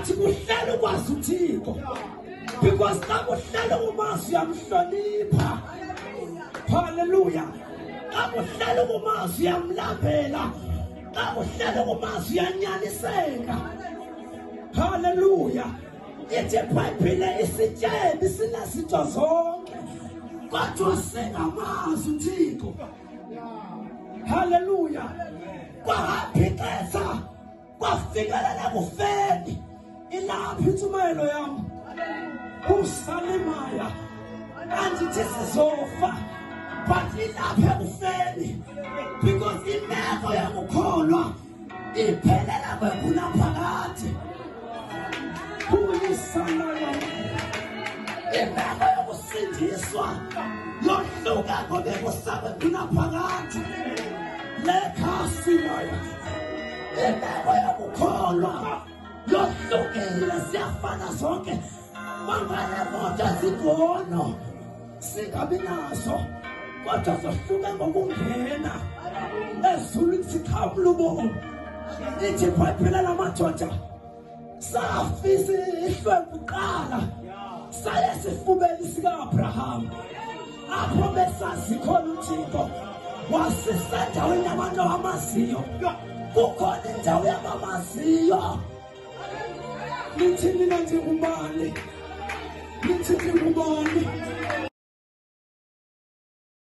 Sikuhlele ukwazi uThixo. Because xa kuhlele umazi uyamhlonipha. Hallelujah. Xa kuhlele umazi uyamlambela. Xa kuhlele umazi uyanyaniseka. Hallelujah. Ithi iBhayibhile isityebi sinazinto zonke. Kodwa singamazi uThixo. Hallelujah. Kwahamba ixesha kwafikelele kufeni ilapha intshumayelo yam usalimaya andithi sizofa but ilapha ekufeni because imeko yokukholwa iphelela kwekuna phakathi kuyisalaya imeko yokusindiswa yohluka kobekusakwekuna phakathi lekhasi layo Intego yokukholwa yohlukile siyafana sonke mangayemoto ezigono singabi naso kodwa zohluke ngokungena ezulwini sikhawula ubomi ithi phayiphelela amadoda safisa ihlwempu kuqala saye esifubeni sika-abraham apho besazi khona uthixo wasisendaweni abantu abamaziyo kukhona indawo yabamaziyo nithini na ndingubani nithini ngubani